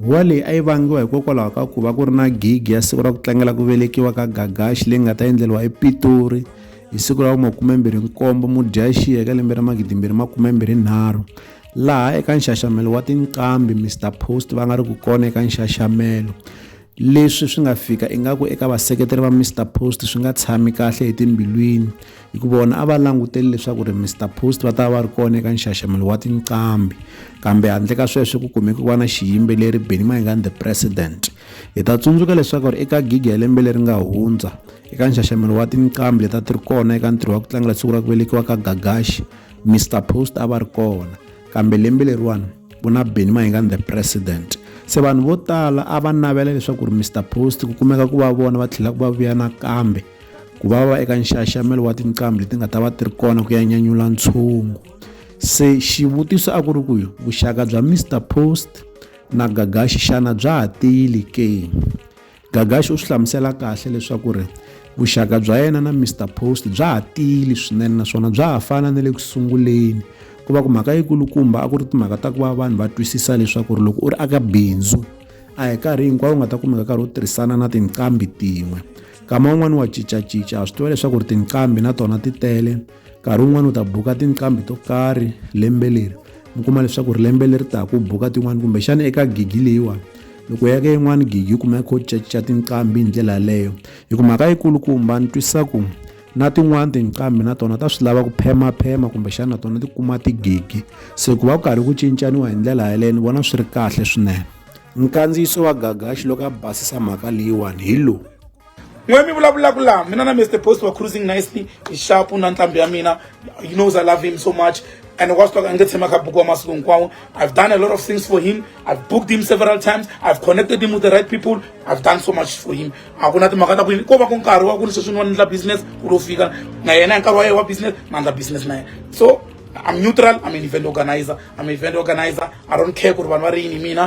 Huwa leyi a yi vangiwa hikokwalaho ka ku va ku ri na gigi ya siku ra ku tlangela ku velekiwa ka Gagashi leyi nga ta endleriwa ePitori hi siku ra vumakumembirhi nkombo Mudyaxihi eka lembe ra magidimbirhi makumembirhi nharhu laha eka nxaxamelo wa tinqambi Mister Post va nga ri ku kona eka nxaxamelo Leswi swi nga fika ingaku eka vaseketeri va Mr Post swi nga tshami kahle etimbilwini hikuva vona a va languteli leswaku ri Mr Post va ta va va ri kona eka nxaxamelo wa tinqambi kambe handle ka sweswo ku kumeke ku va na xiyimbeleri Benny Mayengani the president hi ta tsundzuka leswaku ri eka gigi ya lembe leri nga hundza eka nxaxamelo wa tinqambi leta ti ri kona eka ntirho wa ku tlangela siku ra ku velekiwa ka Gagashi Mr Post a va ri kona kambe lembe leriwani ku na beni mahingani the president se vanhu vo tala a va navela leswaku ri mr post ku kumeka ku va vona va tlhela ku va vuya nakambe ku va va eka nxaxamelo wa tinqambi leti nga ta va ti ri kona ku ya nyanyula ntshungu se xivutiso a ku ri ku vuxaka bya mr post na gagaxi xana bya ha tiyile ke Gagashi u swi hlamusela kahle leswaku ri vuxaka bya yena na Mr Post bya ha tiyile swinene naswona bya ha fana na le ku sunguleni ku va ku mhaka yikulukumba a ku ri timhaka ta ku va vanhu va twisisa leswaku ri loko u ri aka bindzu a hi karhi hinkwawo u nga ta kumeka karhi u tirhisana na tinqambi tin'we nkama wun'wani wa cincacinca ha swi tiva leswaku ri tinqambi na tona ti tele nkarhi wun'wana u ta buka tinqambi to karhi lembe leri mi kuma leswaku ri lembe leri taka u buka tin'wana kumbexana eka gigi leyiwani loko u ya ka yin'wana gigi u kumeka u caca tinqambi hi ndlela yaleyo hi ku mhaka yikulukumba ni twisisa ku na tin'wani tinqambi na tona ta swi lava ku phemaphema kumbexana na tona ti kuma tigigi se ku va ku karhi ku cincaniwa hi ndlela yaleyo ni vona swi ri kahle swinene nkandziyiso wa gagaxi loko a basisa mhaka leyiwani hi lowu n'we mi vulavulaka laha mina na mr post wa cruising nicely hi xapu na ntlhambi ya mina you knows i love him so much and was talking nge tshema ka buku wa masiku hinkwawo i've done a lot of things for him i've booked him several times i've connected him with the right people i've done so much for him a ku na timhaka ta ku yini ko va ku nkarhi wa ku ni sweswi ni wa ni endla business ku lo fika na yena hi nkarhi wa yena wa business na endla business na yena so I'm neutral. I'm an event organizer. I'm an event organizer. I don't care what one worry in me.